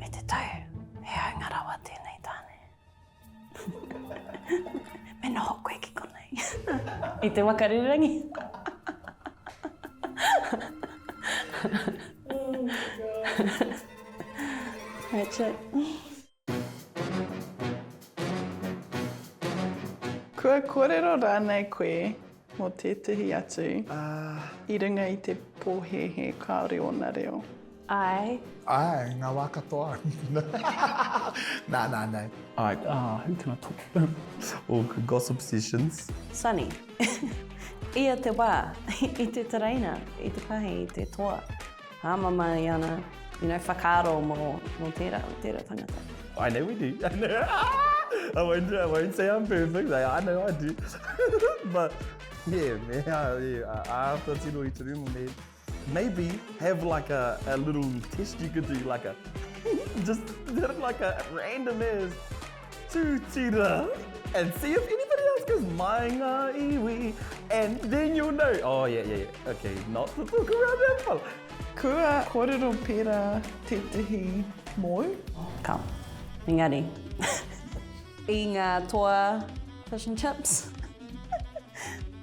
E te tau, he haunga rawa tēnei tāne. Me noho koe ki konei. I te waka rererangi. That's it. Kua kōrero rānei koe Mō tētehi atu, i runga i te pōhēhē kāore ōna reo. Āe. Āe, ngā wā katoa. Nā, nā, nā. Āe, ā, who can I talk to? All the gossip sessions. Sunny. Ia te wā, i te tereina, i te pahi, i te toa. Hāmama i ana, you know, whakaaro mō, mō tērā, tērā tangata. I know we do. I know. I won't, I won't say I'm perfect. I, I know I do. But yeah, man, I, yeah, I have to tino i te rima, man. Maybe have like a, a little test you could do, like a, just like a random ass. Tūtira! And see if anybody else goes Mai ngā iwi And then you'll know Oh yeah yeah yeah Okay not to talk around that fella Kua kōrero pērā tētehi mōu? Ka. Engari. I ngā toa fish and chips.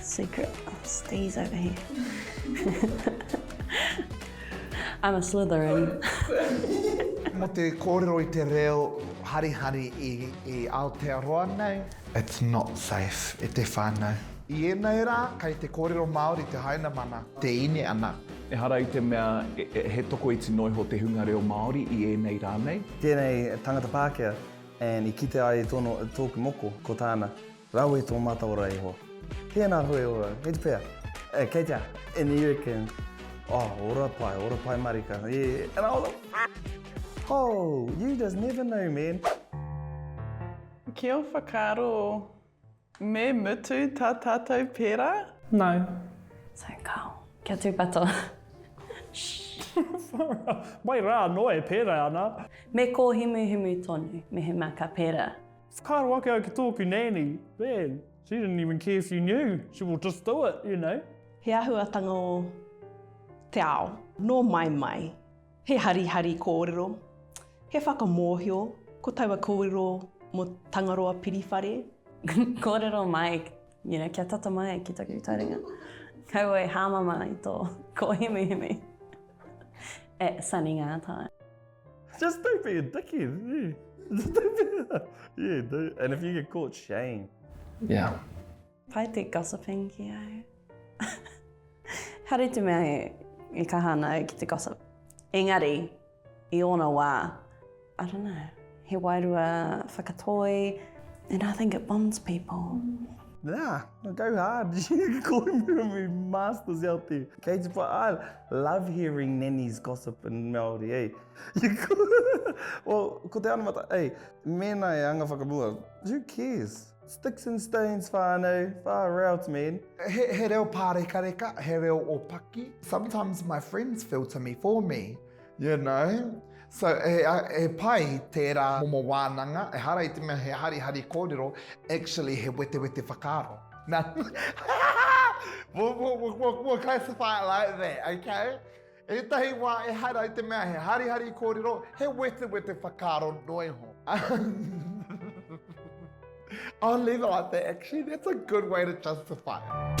Secret of Steez over here. I'm a Slytherin. Mō te kōrero i te reo harihari i, i Aotearoa nei. It's not safe, e te whānau. I ēnei rā, kei te kōrero Māori te Hainamana. Te ine ana. Ehara i te mea he tokoiti noa iho te hunga reo Māori i ēnei rā nei. Tēnei tangata Pākehā, and i kite ai tōna, tōku moko, ko tāna. Rawe i tō mātou ra iho. Tēnā hoe ora, kei te whea? Eh, kei te aha? Any you can. Oh, ora pai, ora pai marika. Yeah, and I was like, oh, you just never know, man. Kia whakaaro, me mutu tā tātou pērā? No. So kao, kia tūpato. Mai rā anō e pērā ana. Me kōhimuhimu tonu, mehemea ka pērā. Whakaaro ake au ki tōku nanny, man, she didn't even care if you knew, she will just do it, you know. He āhuatanga o te ao, nō mai mai. He harihari kōrero, he whakamōhio, ko taua kōrero mō Tangaroa Piriwhare. Kōrero mai, you know, kia tata mai ki taku taringa. Kaua e hāmama i tō kōhimihimi at Sunny Ngātai. Just don't be a dickhead. Yeah. Just don't be a... Yeah, dude. And if you get caught, shame. Yeah. Pai te gossiping ki au. Haru te mea e, e kaha ana au ki te gossip. Engari, i ōna wā, I don't know, he wairua whakatoi, and I think it bonds people. Nah, go hard. Kōrimi masters out there. Kei te pa, Love hearing Nanny's gossip in Māori, eh? well, ko te anamata, eh, mēnā e anga whakamua, who cares? Sticks and stones whānau, far out man. He, he reo pārekareka, he reo o paki. Sometimes my friends filter me for me, you know? So, he pai tērā momo wānanga, ehara i te mea he harihari kōrero, actually he wetewete whakaaro. Nā, we'll classify it like that, okay? Ētahi wā ehara i te mea he harihari kōrero, he wetewete whakaaro noa iho. I'll leave it like that, actually, that's a good way to justify it.